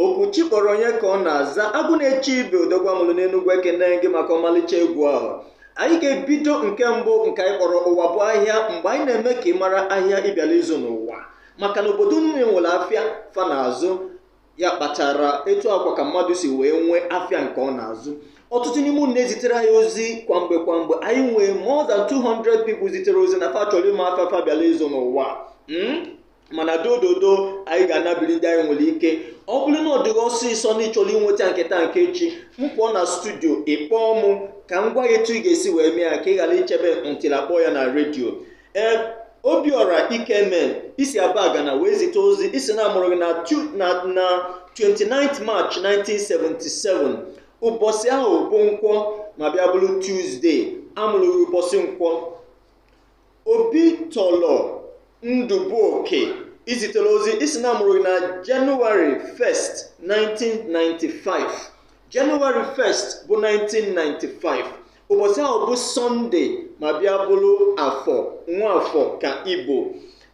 okwu chi kpọrọ onye ka ọ na-aza agụ na-eche ibe odogwu a mụrụ n'enugwu ekene m gị maka ọmalịcha egwu ahụ anyị ga-ebido nke mbụ nke anyị kpọrọ ụwa bụ ahịa mgbe anyị na-eme ka ị mara ahịa ị bịala ịzụ n'ụwa maka na obodo niile nwere afịa fa na-azụ ya kpatara etu a kwa ka mmadụ si wee nwee afịa nke ọ na-azụ ọtụtụ n'ime unu na-ezitere anyị ozi kwa mgbe kwa mgbe anyị nwee more than 200 people zitere ozi na fa chọrọ ịma afịa fa bịala ịzụ n'ụwa Mm? mana dododo anyị ga-anabili ndị anyị nwere ike ọ bụrụ na ọ dị gị ọsịsọ na ị chọrọ inweta nke taa nke echi m pụọ na studio ị kpọọ mụ ka m gwa gị etu ị ga-esi wee mee ya ka ị ghara ichebe until a kpọọ ya na redio ee obiọra ikeme i si abagana wee zite ozi ị sị na a mụrụ gị na tu- na na 29 march 1977 ụbọchị ahụ bụ nkwọ ma bịa bụrụ tuzdee a mụrụ gị ụbọchị nkwọ obi tọlọ ndụbụoke i zitere ozi ị sị na a mụrụ gị na jenụwarị 1st 1995 jenụwarị 1st bụ 1995 ụbọchị ahụ bụ sọnde ma bịa bụrụ afọ nwa afọ ka ị bụ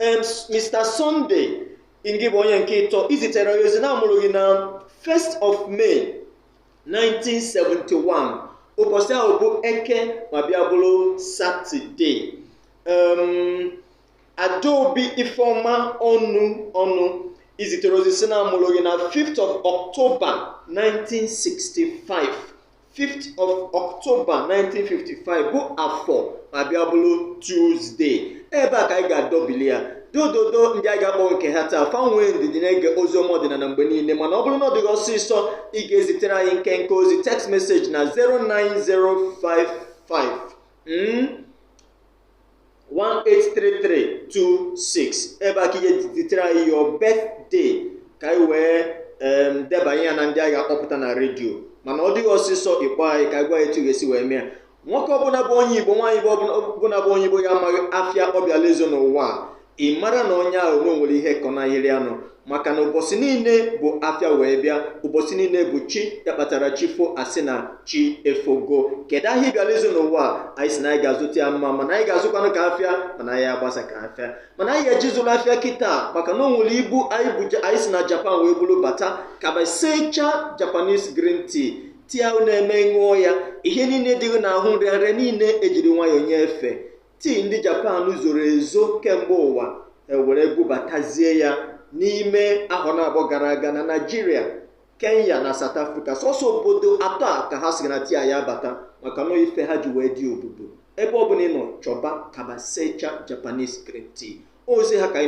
em mr sọnde ngị bụ onye nke ịtọ i zitere anyị ozi na a mụrụ gị na 1st of may 1971 ụbọchị ahụ bụ eke ma bịa bụrụ satọde um, adaobi ifeọma ọnụ ọnụ i zitere ozi sị na a mụrụ gị na 5th of october 1965 5th of October 1955 bụ afọ ma bịa bụrụ Tuesday ebe a ka anyị ga-adọbili ya dododo ndị anyị na-akpọghị nke ha taa fa nwee ndidi na-ege ozi ọma ọdịnala mgbe niile mana ọ bụrụ na ọ dị gị ọsịsọ ị ga-ezitere anyị nkenke ozi text message na 0905 5 mm 183326 ebe a ka ị ya-edetere anyị your birthday ka anyị wee em, debanye ya na ndị anyị ga-akpọpụta na redio mana ọ dị gị ọsịsọ ị kpọọ anyị ka anyị gwa gị etu ị ga-esi wee mee ya nwoke ọbụla bụ onye igbo nwaanyị ọbụla bụ onye igbo ya amaghị afịa ọ bịala ịzụ n'ụwa a ị mara na onye ahụ na o nwere ihe kọnahịrị ya nụ maka na ụbọchị niile bụ afịa wee bịa ụbọchị niile bụ chi ya kpatara chi fo a sị na chi efogo kedu ahịa ị bịara ịzụ n'ụwa anyị si na anyị ga-azụta ya mma mana anyị ga-azụkwanụ ka afịa mana anyị agbasa ka afịa mana anyị ga-eje zụrụ afịa kịta maka na o nwere ibu anyị bụ anyị si na japan wee buru bata kabasecha japanese green tea tea a na-eme ị ṅụọ ya ihe niile dị gị n'ahụ nrịanrịa niile ejiri nwayọọ nye efe tii ndị japan zoro ezo kemgbe ụwa e were bubatazie ya n'ime ahọ naabọ gara aga na naijiria kenya na south africa sọsọ obodo atọ a ka ha sị na tii a ya-abata maka na ife ha ji wee dị obodo ebe ọ bụla ị nọ chọba kabasecha japanese green tea ozi ha ka anyị